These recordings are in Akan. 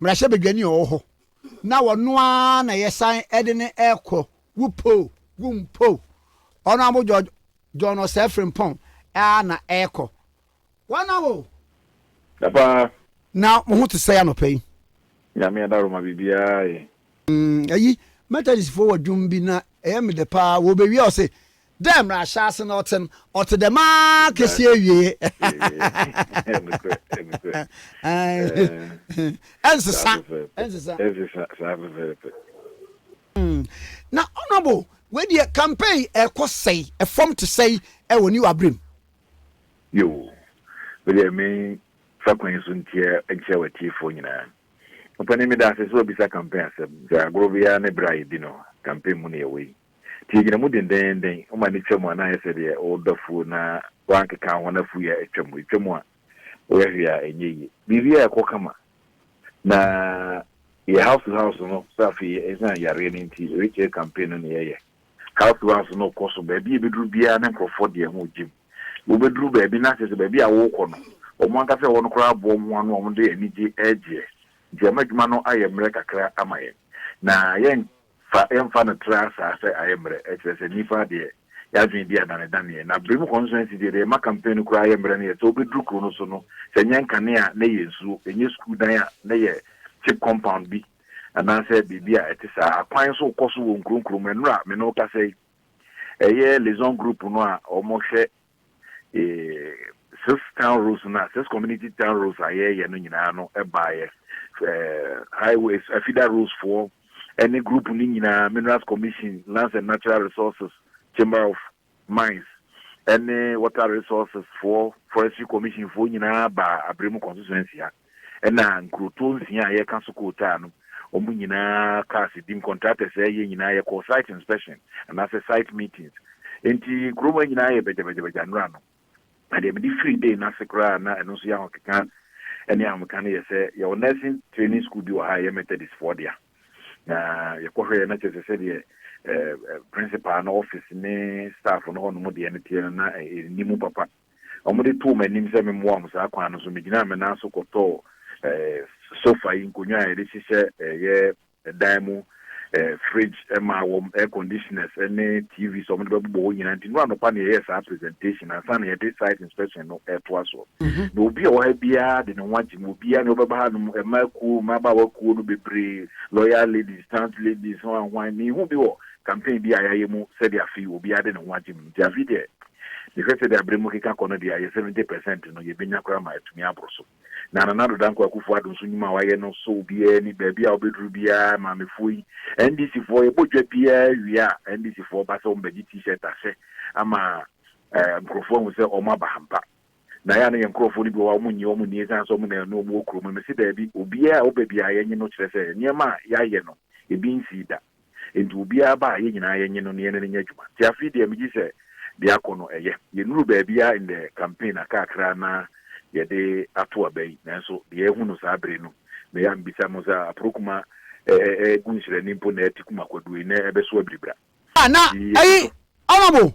Mmarahyɛbadwani a ɔwɔ hɔ na ɔno ara na yɛsan de no rekɔ, wopɛ o, wompɛ o, Honourable George John Osei Frimpong ara na ɛrekɔ. Wɔn awo! Da paa. Na mo ho te sɛn anɔpa yi? Nyame adaroma biribiara ye. Ayi Methodistfoɔ wɔ dwom bi na ɛyɛ me dɛ paa, wɔbɛwie a ɔse. Dɛ mbrɛ ahyɛase no ɔtse no, ɔtse dɛm ara kesi ewiei. Ɛnsesa. Ɛnsesa. Ɛnsesa, saa pɛpɛɛpɛ. Mm. Na honourable, wei deɛ campaign ɛkɔ sɛi, ɛfam te sɛi ɛwɔ new abrem. Yoo, me deɛ me fa kwan yi so ntia nkyerɛ w'atiefoɔ nyinaa. Ɔpanin meda ase sɛ wabisa campaign asɛm, sɛ agorɔ biara ne berɛ a yɛdi no, campaign mu ne yɛwɔ yi. Nti yɛgyina mu dendennden, woma no twa mu a na ayɛ sɛ deɛ woredɔ afuo na woankeka ho na afuo yi atwa mu, ɛtwa mu a woyɛ hwee a ɛnyɛ yie. Biribiara ɛkɔ kama. Na yɛ house to house no sɛ afei ɛsiane yareɛ no nti rekyɛ campaign no na yɛyɛ. House to house no kɔ so baabi a ɛbɛduru biara na nkurɔfoɔ de ho gyem. Wobɛduru baabi na kyerɛ sɛ baabi a worekɔ no wɔn ankasa a ɛwɔ no koraa aboa wɔn ho ano a wɔde anigye regyeɛ. Nti ama adwuma no ayɛ mmerɛ kakra ama yɛn. Na yɛn. Fa yɛmfa no tra saa sɛ ayɛ mmerɛ ɛkyerɛ sɛ nnipa deɛ yɛadwene di adanedaneɛ na bere mu constituency deɛ deɛ ɛma campaign no koraa yɛ mmerɛ no yɛ sɛ wobɛduru kuro no so no sɛ nyɛ nkanea a na ɛyɛ nsuo ɛnyɛ sukuu dan a na ɛyɛ cheap compound bi anaasɛ biribi a ɛte saa akwan nso rekɔ so wɔ nkuro nkuro mu ɛnora me ne wo kasa yi ɛyɛ liaison group no a wɔhwɛ Six town roads no a, six community town roads a yɛreyɛ no nyinaa no baeɛ. Highways, afida roads foɔ ne group no nyinaa, Minerals Commission, Lands and Natural Resources, Chamber of Mines, ne Water Resources foɔ, Forestry Commission foɔ nyinaa baa Abremu constituency ha. ɛna nkurotoɔ nsia a yɛka so kootaa no, wɔn nyinaa cars dim, contractors a ɛyɛ nyinaa yɛkɔɔ site inspection anaasɛ site meetings. Enti kurom ha nyinaa yɛ bagyabagyabagya nnora no. Na deɛ mede firii day no ase koraa na ɛno nso yɛ ahokeka ne ahomeka no yɛ sɛ yɛwɔ nursing training school bi wɔ ha a ɛyɛ Methodistfoɔ dea. Na yɛkɔhwɛeɛ na kyerɛ sɛ sɛdeɛ eh, eh, principal no office ne staff no hɔnom deɛ no teɛ no na ɛnni mu papa. Wɔde too m'anim sɛ memmoa wɔn saa kwan no so. Migyinaa me nan so kɔtɔɔ sofa yi, nkonnwa a yɛde hyehyɛ yɛn dan mu, fridge maa wɔn, air conditioners ne TVs a wɔde bɛbobɔ hɔ nyinaa. Nti nnora anɔpa na yɛyɛɛ saa presentation ansa na yɛde site inspection no retoa so. Na obi a ɔwɔ ha biara de ne ho agye mu. Obiara, nea ɔbɛba hanom, mmaa kuo, mmabaawa kuo no bebree, lawyer ladies, stunt ladies, hwan hwan. Menhuu bi wɔ campaign bi a yɛayɛ mu sɛdeɛ afei obiara de ne ho agye mu. Nti afei deɛ Mehwɛ sɛdeɛ aberɛ mu rekeka kɔ no deɛ a, yɛn seventy percent no, yɛbɛnya koraa ma atumi aboro so. Na Nana Addo Dankwa Akufo-Addo nso nnwuma a wayɛ no sɔ obiara ani, baabi a wobɛduru biara, Maamefoɔ yi, NDCfoɔ, yɛbɔ dwa biara wie a, NDCfoɔ ba sɛ wɔbɛgye T-shirt ahyɛ ama nkurɔfoɔ ahu sɛ wɔaba ampa. Na ɛyɛ a na yɛn nkurɔfoɔ no bi wɔ hɔ a wɔnnye wɔn nni ɛsiane sɛ wɔn na ɛno wɔn wɔ kuro mu no. Mese daabi, obiara a ɔba biara yɛnye no kyerɛ sɛ nneɛma a yɛayɛ no ebi nsii da. Enti obiara ba a yɛn nyinaa yɛnye no na yɛne no nyɛ adwuma. Nti afei deɛ megye sɛ deɛ akɔ no ɛyɛ. Yɛnnuru baabi ara in the campaign a kakra na yɛde ato aba yi nanso deɛ ahu no saa bere no na ɛyɛ a mebisa mo sɛ Aprokuma ɛgu nhyerɛnne mpo na ɛte Kumakwadua yi na ɛbɛso abiribra? Na ɛyi Honourable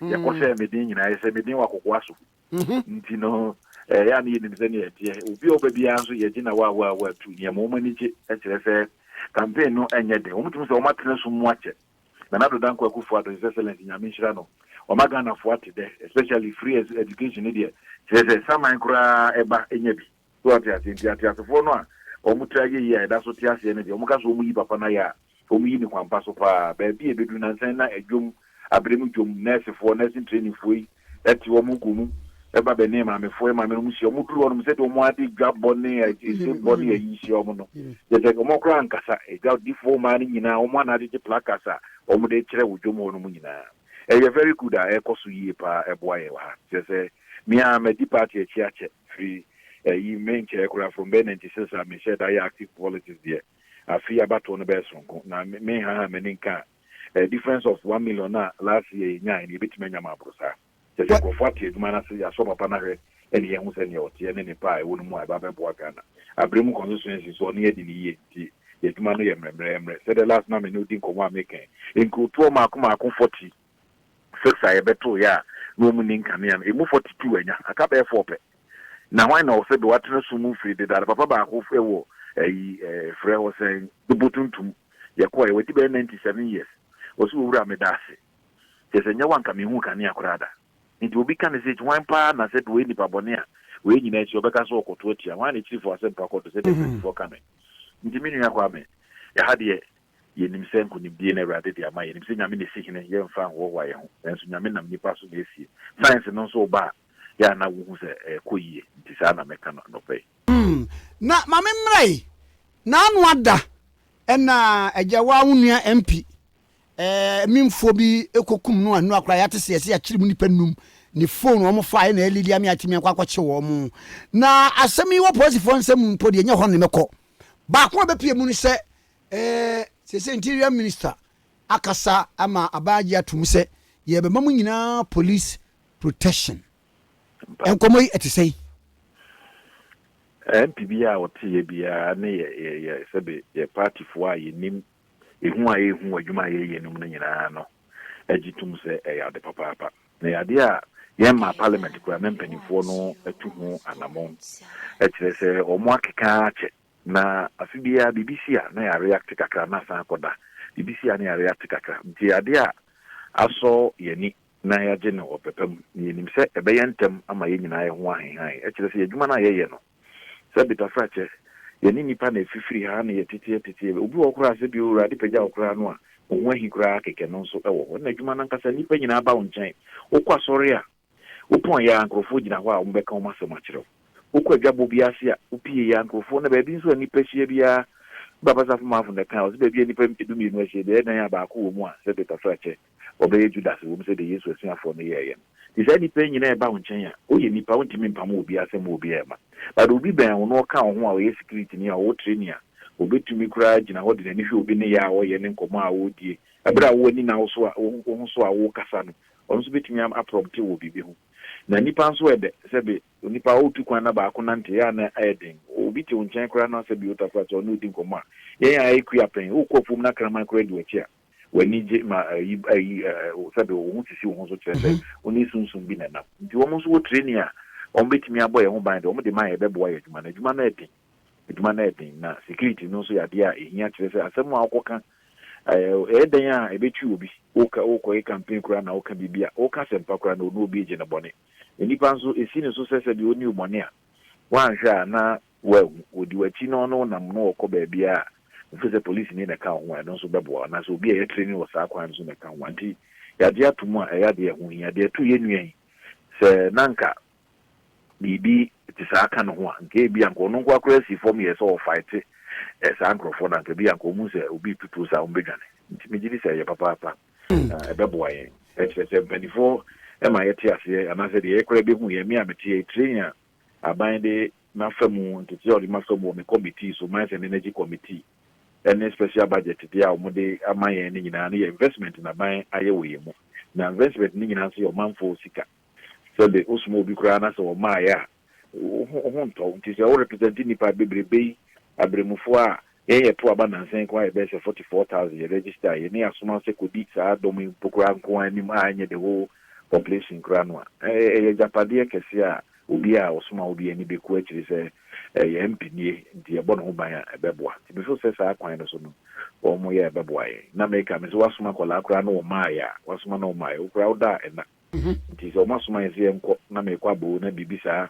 yɛkɔ hyɛɛ me den nyinaa, yɛhyɛɛ me den wɔ akokoa so nti no, ɛyɛ a na yɛnim sɛnea ɛteɛ. Obi a ɔba biara nso, yɛgye no awaawaawa tu. Nea ɛma wɔn ani gye kyerɛ sɛ campaign no nyɛ den. Wɔtumi sɛ wɔatena sum mu akyɛ. Nana Addo Dankwa Akuffo Addo, His Excellency, Nyame nhyira no, wama Ghanafoɔ ate dɛ, especially free education no deɛ, kyerɛ sɛ saman koraa ɛba nya bi. So wate aseɛ? Nti ateasefoɔ no a wɔn tiri ayɛ yie a ɛda so te aseɛ no deɛ, wɔn ka sɛ wɔn yi papa no ayɛ a, wɔn yi no kwanpa so paa. Baabi a ɛbɛduru nansa yi na ɛdwom, abere mu dwom, nɛɛsefoɔ, nursing training foɔ yi te wɔn ho kɔ mu ba bɛne maamefoɔ yi maame no mu hyia. Wɔn duru hɔ nom sɛdeɛ wɔn ara de dwa bɔ ne ɛse bɔ ne ayi hyia wɔn no, kyerɛ sɛ wɔn koraa ankasa dwa difoɔ mmaa no nyinaa wɔn ana agyegye placards a wɔn de kyerɛ wɔ dwom hɔ nom nyinaa. Ɛyɛ very good a ɛrekɔ so yie paa ɛboa yɛn wɔ ha. Kyerɛ sɛ me ara madi party akyi akyɛ. firi ɛyi me nkyɛɛ koraa from bɛyɛ ninety six a me hyɛ da yɛ active politics deɛ afe abatoɔ no bɛyɛ sononko na me nhaha m'ani nka a eh, difference of one million na last year yɛ nyae no yɛbɛtumi anya ma aboro saa kyɛ sɛ nkurɔfoɔ ate adwuma no ase yɛasɔ papa no ahwɛ ɛne yɛhu sɛ neɛ ɔteɛ ne nepa a ɛwɔ no mu a ɛba bɛboa Ghana abrɛ mu constituency so ɔne adi ne yie nti yɛadwuma no yɛ mmerɛmmerɛ mmerɛ sɛdeɛ last na me ne odi nkɔmmɔ a mekɛn nkurotoɔ maako maako forty Six a yɛbɛtow yɛ a na wɔn nni nkanea no, emu forty two anya, aka bɛyɛ four pɛ. Na hwan na ɔsɛ de watena sum mu mfiri dedaada? Papa baako wɔ ayi frɛ hɔ sɛn, Bepɔ Tuntum. Yɛkɔɔɛ, wadi bɛyɛ ninety seven years. Ɔse, Owura, meda ase. Kyerɛ sɛ, nyɛ wo a nka menhuu kanea koraa da. Enti obi ka no sɛ, Eti hwan paa na sɛ deɛ ɔyɛ nipa bɔne a, wei nyinaa akyi ɔbɛka sɛ ɔrekɔto atua? Hwan na akyirifoɔ asɛmpa kɔ do sɛdeɛ mpanimfoɔ ka no yi? Enti me nua Kwame, ɛha deɛ, Yɛnim sɛ nkonimdie na Awurade de ama yɛn. Yɛnim sɛ Nyame na ɛsi hene, yɛmfa nhoahoa yɛn ho. Nanso Nyame nam nnipa so na ɛsie. Science no nso reba a, yɛ a na wohu sɛ ɛrekɔ yie. Nti saa na mɛka no anɔpa yi. Umm na mame mmra yi naano ada ɛna agya waa wo nua MP ɛɛ minfoɔ bi ɛkɔ kum no anua koraa yate sɛ yɛsɛ yɛakyere mu nipa num ne phone wɔn faa ɛna ɛlidi ame atimi akɔ akɔkye wɔn na asɛm yi wɔ polisifoɔ nsɛm mpo deɛ nyɛ hɔ ne mɛkɔ baako a bɛpie mu no sɛ Ɛɛ, seesei Interior Minister akasa ama aban agye ato mu sɛ yɛbɛma mo nyinaa police protection. Nkɔmmɔ yi ɛte sɛn? MP bi a ɔte yɛ biara ne yɛ yɛ yɛ sɛbe yɛ partyfoɔ a yɛnim ehu a yɛrehu wɔ adwuma a yɛreyɛ no mu no nyinaa no gye tom sɛ ɛyɛ ade papaapa. Na ɛyɛ adeɛ a yɛmmaa Parliament koraa na mpanimfoɔ no atu ho anammɔn kyerɛ sɛ wɔakeka ara akyɛ. Na afe biara biribi si a na yɛ react kakra na asan akɔ da, biribi si a na yɛ react kakra. Nti ade a asɔ yɛ ani na yɛ agye no wɔ pɛpa mu na yɛ nim sɛ ɛbɛyɛ ntɛm ama yɛ nyinaa yɛ ho ahehae. Ɛkyerɛ sɛ yɛ adwuma no a yɛ yɛ no sɛ betafrakyɛ, yɛ ne nnipa na ɛfifiri ha na yɛ tete yɛ tete yɛ. Obi wɔ hɔ koraa sɛ bi Awurade pagya wo koraa no a wo ho ahi koraa kɛkɛ no nso wɔ hɔ. Ɛna adwuma no ankasa nnipa nyinaa ba wo nkyɛn, wo kɔ asɔre a, Wopɔn yɛ a, nkurɔfoɔ gyina hɔ a wɔbɛka wɔn asɛm akyerɛ wo. Wokɔ adwabɔ bi ase a, wopie yɛ a, nkurɔfoɔ na baabi nso a nnipa hyia biara, Papa Safomanfo na ɛkae, ɔse baabi a nnipa dumienu ahyia biara, ɛdan a baako wɔ mu a, sɛdeɛ tɔtorɔ akyɛ, wɔbɛyɛ Judas wɔ mu sɛdeɛ Yesu asuafoɔ no yɛeɛ no. Nti saa nnipa yi nyina a ɛba wo nkyɛn a, woyɛ nnipa, wontumi mpamo obiara asɛm wɔ obiara mma. But obi bɛn wo na ɔka wo ho a ɔyɛ sikiritini a ɔwɔ training a, ɔbɛtumi koraa agyina hɔ de n'ani hwɛ obi nneyɛɛ a ɔyɛ ne nkɔmmɔ a ɔredie, berɛ a wo ani nna wo so a, wo ho so a worekasa no, Ɔno nso betumi am aprɔmte wɔ biribi ho. Na nnipa nso ɛdɛ. Sɛbe, onipa a ɔretu kwan na baako nante, ɛyɛ a na ayɛ den. Obi te wo nkyɛn koraa na sɛbe ɔretu asaase a ɔne wo di nkɔmmɔ a, yɛn a yɛyɛ kua pɛn, worekɔ afuom na kraman koraa di w'akyi a, w'ani gye ma ayi ayi ɛ ɛ sɛbe wo ho sisi wo ho so kyerɛ sɛ wo ne sunsum bi na ɛnam. Nti wɔn nso wɔ training a wɔbetumi abɔ yɛn ho ban de wɔn de ma yɛn ɛbɛboa yɛn adwuma no. Adwuma no yɛ den. Adwuma no yɛ den, na security no nso yɛ adeɛ a ɛhia, kyerɛ sɛ asɛm a wokɔka, ɛyɛ dɛn a ɛbɛtwi obi, wokɔyɛ campaign koraa na woka biribi a, woka asɛmpa koraa na ɔne obi regye no bɔne. Nnipa nso, ɛsi no so sɛ sɛdeɛ ɔnni wo bɔne a, woanhwɛ a na woahu, ɔdi w'akyi na ɔne wo nam na ɔkɔ baabiara a, wofiri sɛ polisini na ɛka wo ho a, ɛno nso bɛboa wo, anaasɛ obi a ɛyɛ training wɔ saa kwan no so na ɛka wo ho a. Nti yɛagye atom a, ɛyɛ adeɛ a ɛho hia. Deɛ ɛto yɛn nua yi, sɛ na anka biribi te saa ka ne ho a, nka ebia anka ɔno nko ara koraa si fam yɛɛ sɛ ɔrefaete saa nkurɔfoɔ no a, anka ebia anka wɔhu sɛ obi retutuo saa a, wɔbɛdwane. Nti megye di sɛ ɛyɛ papaapa na ɛbɛboa yɛn. Ɛkyerɛ sɛ mpaninfoɔ ma yɛte aseɛ anaasɛ deɛ yɛyɛ koraa bɛhu yɛn. Me a mete ha yi, train a aban de m'afa mu, nteteeɛ a wɔde m'afa mu wɔ me kɔmitii so, Mines and Energy Committee, ne special budget deɛ a wɔde ama yɛn no nyinaa no yɛ investment na aban ayɛ wɔ yɛn mu. Na investment no nyinaa nso yɛ ɔmanfoɔ sika. Sɛde wosoma obi koraa na sɛ wɔmmaeɛ a, wo ho wo ho ntɔ wo. Nti sɛ wo represente nnipa bebrebe yi, aberemufoɔ a yɛn yɛto aba nnansa yi nko ara yɛbɛyɛ sɛ forty four thousand yɛ register yɛne asoma sɛ kɔdi saa dɔm yi mpo koraa nko ara anim a ɛnyɛ the whole population koraa no a, ɛyɛ agyapadeɛ kɛseɛ a obiara a ɔsoma wo biara ani bɛku akyiri sɛ yɛn MP nie nti yɛbɔ ne ho ban a ɛbɛboa. Nti me feel sɛ saa kwan no so no wɔyɛ a ɛbɛboa yɛn. Na meka me sɛ woasoma akwadaa koraa na wɔmmaeɛ a, woasoma na wɔmmaeɛ, wo koraa woda a ɛna. Nti sɛ wɔasoma yɛn sɛ yɛnkɔ na mekɔ aboo na biribi saa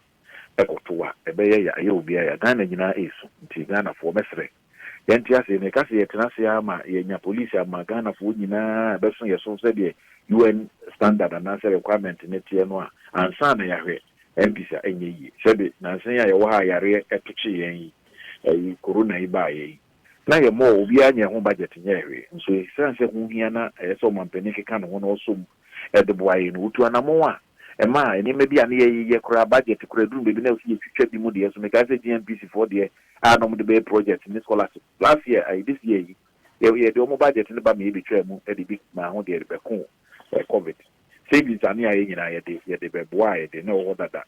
kɔto a, ɛbɛyɛ ya, ɛyɛ obiara ya. Ghana nyinaa resu, nti Ghanafoɔ, mɛsrɛ, yɛnte ase. Meka sɛ yɛtena ase ara ma yɛanya polisi ama Ghanafoɔ nyinaa a ɛbɛso yɛn so sɛdeɛ UN standard anaasɛ requirement no teɛ no a, ansa na yɛahwɛ MPs a, ɛnyɛ yie. Sɛbe nansa yi a yɛwɔ ha a yareɛ tokyee yɛn yi, ɛyi Corona yi baeɛ yi, na yɛmmɔɔ, obiara nyɛɛ ho budget nyɛɛ hwee, nso esiane sɛ ho hia na ɛyɛ sɛ ɔmampanin keka ne ho na ɔsɔ mu de boa yɛn no, wotu anammɔn a, ɛma nneɛma bi a na yɛyeyɛ koraa, budget koraa, ɛduru baabi na ɛwɔ sɛ yɛtwitwa bi mu deɛ so. Mekae sɛ GNPC foɔ deɛ a na wɔde bɛyɛ project ne scholarship last year, ayi, this year yi, yɛ, yɛde wɔn budget no ba ma yɛbɛtwaa mu de bi maa ho deɛ de bɛko ɛ, Covid. Savings a na yɛayɛ nyinaa, yɛde, yɛde bɛboaa yɛde na ɛwɔ hɔ dada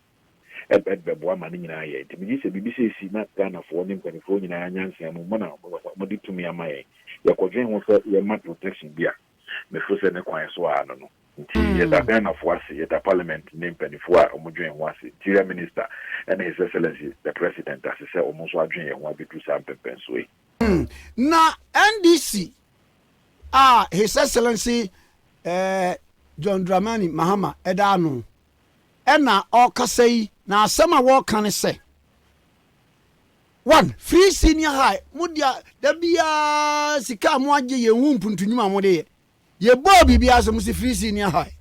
ɛ, de bɛboa ma ne nyinaa yɛɛ. Nti megye sɛ biribi sɛ ɛsi na Ghanafoɔ ne mpaninfoɔ nyinaa nyansea mu, mo na mo, mo, mode tumi ama yɛn. Yɛkɔdwen ho sɛ yɛma protection bi a, Mefo sɛ ne kwan so aa no no nti yɛda Ghanafo ase, yɛda Parliament ne mpanyinfo a ɔmo dwen ho ase, Interior Minister ɛne His Excellency the President ase sɛ ɔmo nso adwen yɛn ho abeduru saa mpɛmpɛnsoɔ yi. Na NDC a His Excellency John Dramani Mahama ɛda ano ɛna ɔɔkasa yi, na asɛm a wɔɔka ne sɛ. One, free senior high, mo dea da biaa sika a mo agye yɛn hu mpuntu nwuma a mo de yɛ. Yɛ bɔɔ biribiaa so, mo se free senior high,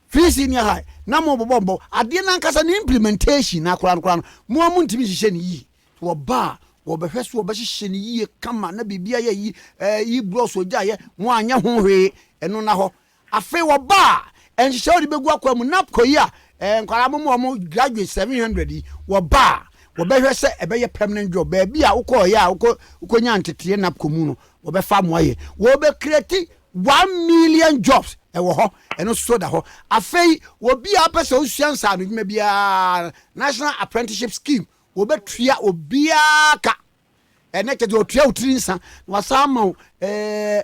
free senior high, na mo bobɔ mbɔ. Adeɛ no ankasa ne implementation no akora no koraa no, mo ara mo ntumi nhyehyɛ no yie. Wɔba a, wɔbɛhwɛ so, wɔbɛhyehyɛ no yie kama na biribiaa yɛ yi, eh, yi blocks ɔgyaeɛ, mo anyɛ ho hwee, ɛno nna hɔ. Afei wɔbaa nhyehyɛe a wɔde begu akwaa mu, NABCO yi a nkwadaa mo ma wɔn graduate seven hundred yi, wɔbaa wɔbɛhwɛ sɛ ɛbɛyɛ permanent job. Baabi a wokɔɔeɛ a wokɔ wokɔnyaa nteteeɛ NABCO mu no, wɔbɛfa mo ayɛ. Wɔbɛ create one million jobs ɛwɔ hɔ, ɛno nso so da hɔ. Afei obiara wopɛ sɛ wosua nsaanodwuma biara, National Apprenticeship Scheme, wɔbɛtua obiara ka. ɛnɛ kyɛ deɛ ɔtua wo tiri nsa na wasan ama wo ɛɛ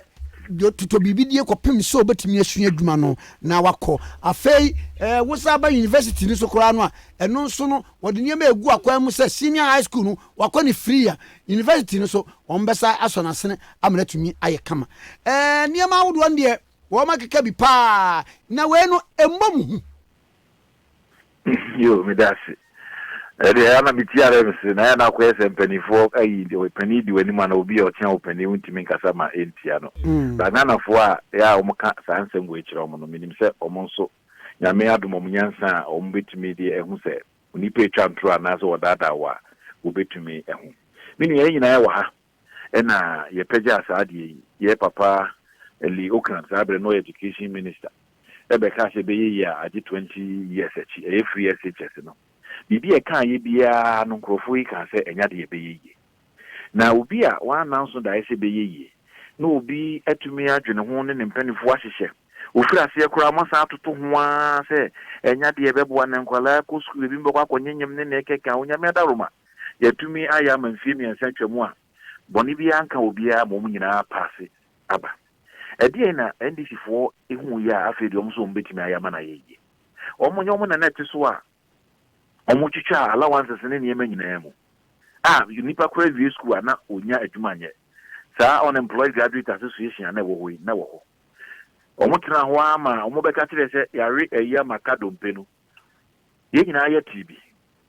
totɔ biribi die kɔpem sɛ ɔbɛtumi asua adwuma no na wakɔ afei ɛɛ wosan ba university no so koraa no a ɛno nso no wɔde nneɛma egu akwan mu sɛ senior high school no wakɔ ne free a university no so wɔn bɛsa asɔ n'asene ama n'atumi ayɛ kama ɛɛ nneɛma ahodoɔ no deɛ wɔn akeka bi paa na wei no ɛmmɔ mu ho. Yoo meda ase. Ɛdeɛ ɛyɛ a na metie ara me se na ɛyɛ na akɔyɛ sɛ mpaninfoɔ ayi ɔpanin di w'anim anaa obi a ɔtea wo panin wontumi nkasa ma ɛntia no. But Ghanafoɔ a ɛyɛ a wɔn ka saa nsɛm wei kyerɛ wɔn no menim sɛ wɔn nso Nyame adom wɔn nyansa a wɔn bɛtumi de ahu sɛ onipa ɛtwa ntoro anaasɛ ɔdaadaa wo a wɔbɛtumi ahu. Me nua yɛn nyinaa yɛwɔ ha ɛna yɛpɛgyaa saa adeɛ yi, yɛ papa Lee Ocran, saa berɛ no ɔyɛ Education Minister, bɛkaa sɛ ɛbɛyɛ yie a agye 20 years akyi, ɛyɛ free SHS no. Biribi a ɛkaeɛ biara no nkorɔfoɔ yi kaa sɛ ɛnyɛ adeɛ a ɛbɛyɛ yie. Na obi a wɔananso daeɛ sɛ ɛbɛyɛ yie na obi atumi adwene ho ne ne mpaninfoɔ ahyehyɛ, wɔfiri aseɛ koraa wɔasan atoto ho ara sɛ ɛnyɛ adeɛ a ɛbɛboa na nkwadaa kɔ sukuu, binom bɛkɔ akɔnyenyem ne nea ɛkeka Onyame adaworoma. Yɛatumi ayɛ ama mfeɛ mmiɛnsa atwam a bɔne biara anka obiara ma wɔn nyinaa apa ase aba. Ɛdeɛn na NDCfoɔ huiɛ a afei deɛ wɔn nso wɔn bɛtumi ayɛ ama no ayɛ yie? Wɔn nyɛ wɔn na na ɛte so a wɔtwitwaa allowances ne nneɛma nyinaa mu a nipa koraa awie sukuu a na ɔnnya adwuma nyɛ. Saa unemployed graduate association a na ɛwɔ hɔ yi na ɛwɔ hɔ. Wɔtenaa hɔ ara ma wɔbɛka kyerɛɛ sɛ yɛawe ayi ama ka dompe no. Yɛn nyinaa yɛ tee bi.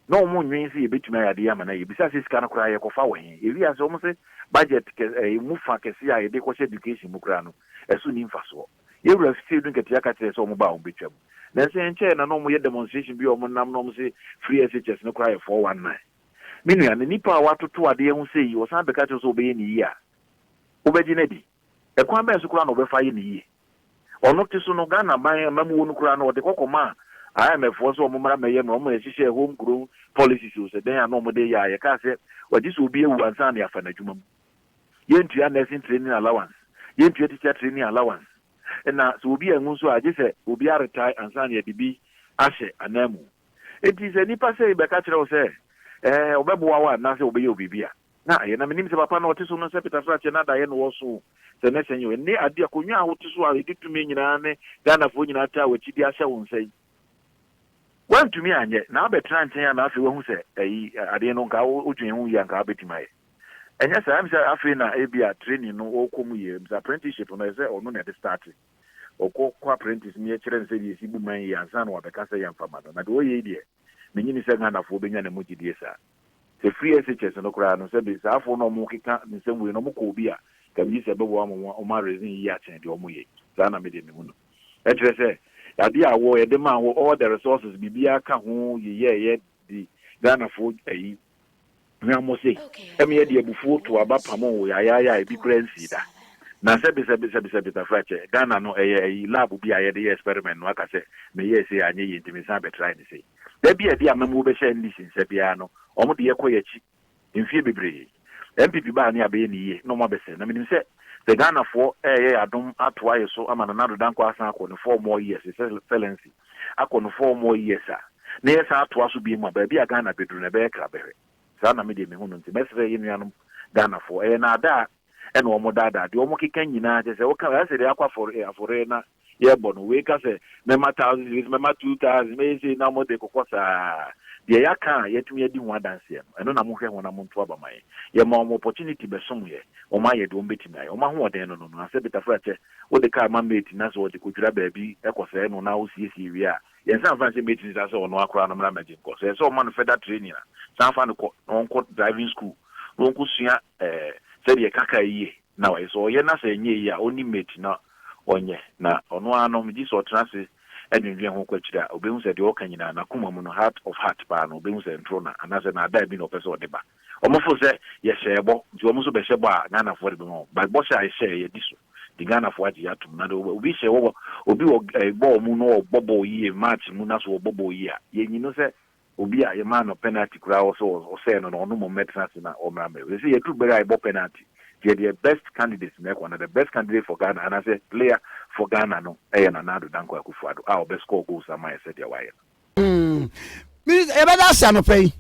Na wɔn nnwen sɛ yɛbɛtumi ayɛ adeɛ yi ama no ayɛ. Bisaa sɛ, sika no koraa yɛkɔfa wɔ he? Yɛhwii ase, wɔn se, budget kɛ, eh, ɛmu fa kɛseɛ a yɛde kɔhyɛ education mu koraa no, ɛso nni mfasoɔ. Yɛn wura fie no nkatia ka kyerɛɛ sɛ wɔn ba a wɔbɛtwa mu. Nanso ɛnkyɛeɛ na na wɔn yɛ demonstration bi a wɔn nam na wɔn se free SHS no koraa yɛ 419. Me nua, na nipa a watoto adeɛ ho sei, ɔsan bɛka kyerɛ wo sɛ ɔbɛyɛ no yie a, wobɛgye no adi? Ɛkwan bɛn so koraa na ɔbɛfa ayɛ no yie? Ɔno te so no, Ghana ban a mmamu wɔ no koraa no, ɔde kɔ kɔmaa IMF foɔ sɛ wɔn mmra mmɛyɛ no, wɔn ɛhyehyɛɛ home grown policies o, sɛ dɛn a na wɔn de yɛ a, yɛkaa sɛ wɔgye sɛ obi awu ansa na yɛafa no adwuma mu. Yɛntua nursing training allowance, yɛntua teacher training allowance, na sɛ obi anwu nso a, gye sɛ obi aretae ansa na yɛde bi ahyɛ ananmu. Enti sɛ nnipa sei bɛka kyerɛ wo sɛ, ɛɛ, wɔbɛboa wo a, anaasɛ wɔbɛyɛ wo biribi a, Na ayɛ, na menim sɛ papa no ɔte so no sɛ peta srakyɛ na adayɛ na ɔwɔ so o. Sɛ nɛ sɛ nyɛ wo. Nne ade akonwa a wote so a edi tumi nyinaa ne Ghana foɔ nyinaa taa wakyi de ahyɛ wo nsa yi. Wantumi anyɛ, na abɛtena nkyɛn a na afei wahu sɛ ɛyi ade no nka wo dwen ho yie a nka wobɛtumi ayɛ. Ɛnyɛ saa, ɛm sɛ afei na ebia training no ɔɔkɔ mu yie, ɛm sɛ apprenticeship no ɛsɛ ɔno na ɛde starte. Ɔkɔ kɔ apprentice ne yɛkyerɛ no sɛdeɛ yɛsi bu man yie ansa na wabɛka sɛ yɛmfa ma no. Na deɛ ɔɔyɛ yi deɛ, menye ni sɛ Ghana foɔ bɛnya ne mu gyedie saa. Ɛfiri SHS no koraa no, sɛbe saa afoɔ no a wɔkeka nsɛm wei no wɔkɔ obi a, nka megye sɛ ɛbɛboa wɔn ma wɔn areason yie akyɛn deɛ wɔyɛ yi. Saa na medeɛ mehu no. Ɛkyerɛ sɛ, adeɛ a wɔ, yɛde maa wɔ, all the resources, biribiara ka ho yeyɛɛyɛ de Ghanafoɔ ayi hwammɔ sei, ɛmeɛ deɛ abufuo too aba pamoo wo yayaayaa ebi koraa nsii da. Na sɛbe, sɛbe, sɛbe, sɛbe, Tafrakyɛ, Ghana no ɛyɛ ayi, lab bi a yɛde yɛ experiment no aka sɛ meyɛɛ sei anyɛ yie nti mesan bɛtrae no sei. Da bi a ɛde amammuo bɛhyɛ NDC nsa biara no, wɔn de yɛ kɔ y'akyi. Mfie bebree. NPP baa ne abɛyɛ ne yie na wɔn abɛsɛe. Na menim sɛ sɛ Ghanafoɔ reyɛ y'adom atoa yɛ so ama Nana Addo Dankwa asan akɔ ne four more years, his excellency akɔ ne four more years a, na yɛsan atoa so biom a, baabi a Ghana bɛduru no ɛbɛyɛ krabɛhwɛ. Saa na me deɛ mehu no. Nti mɛsrɛ yɛ nuanom Ghanafoɔ, ɛyɛ naadaa ɛna wɔn daadaa. Deɛ wɔn keka nyinaa kyerɛ sɛ woka, ayɛ sɛ deɛ akɔ afɔreɛ na yɛbɔ no, wei ka sɛ mɛma thousands, wei sɛ mɛma two thousand, mɛyɛ sei na wɔde kɔkɔ saa. Deɛ yɛaka a yɛatumi adi ho adanseɛ no, ɛno na mohwɛ ho na monto aba ma yɛn. Yɛma wɔn opportunity bɛsomeeɛ, wɔn ayɛ deɛ wɔbɛtumi ayɛ. Wɔn ahoɔden no no no, asɛ betafra kyɛ, wode car ma mate na sɛ ɔde kɔdwira baabi kɔsɛe no na wosiesie wie a, yɛnsan mfa nhyɛ mate no nsa sɛ ɔno ara koraa no mmra mmɛgye nkɔ. Sɛ ɛsɛ sɛ wɔma no further training a, san fa no kɔ na ɔnkɔ driving school na ɔnkɔsua sɛdeɛ yɛka car yie. na ɔyɛ sɛ ɔyɛ na sɛ ɛnyɛ eyi a ɔnni mate na ɔnyɛ na ɔno ara no megye sɛ ɔtena ase dwendwen ho kɔ akyiri a ɔbɛhu sɛ deɛ ɔka nyinaa n'akoma mu no heart of heart paa no ɔbɛhu sɛ ntoro na anaasɛ naadaa bi na ɔpɛ sɛ ɔde ba wɔn fo sɛ yɛhyɛɛ bɔ nti wɔn nso bɛhyɛ bɔ a Ghanafoɔ de bɛma wɔn but bɔhyɛ a yɛhyɛɛ yɛadi so nti Ghanafoɔ agye yɛ atom na deɛ obi hyɛ wɔ obi wɔ bɔɔl mu na ɔbɔ bɔɔl yie match mu na so ɔbɔ bɔɔl yie a yɛnyi no sɛ Obi a yɛmaa no penalty koraa wɔ sɛ ɔsɛe no no ɔno mmom mmɛtena ase na ɔmmra mmɛyɛ wei. Ɛsɛ yɛduru bere a yɛbɔ penalty deɛ deɛ best candidate na ɛkɔ anaa the best candidate for Ghana anaasɛ player for Ghana no ɛyɛ Nana Addo Dankwa Akufo-Addo a ɔbɛ score goals ama yɛn sɛdeɛ wayɛ no. Minister yɛbɛda ase anɔpa yi.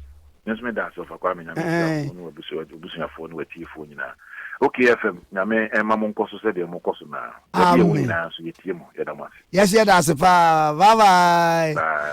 Me nso meda ase Ɔfa Kwame Nyame nhyira wo ne w'abusuafoɔ ne w'atiefoɔ nyinaa. OK FM Nyame ɛmma mo nkɔ so sɛdeɛ mo kɔ so naa. Baabi a ɛwɔ nyinaa nso yɛtie mo. Yɛda mo ase. Yɛse yɛda ase paa. Bye bye. Bye.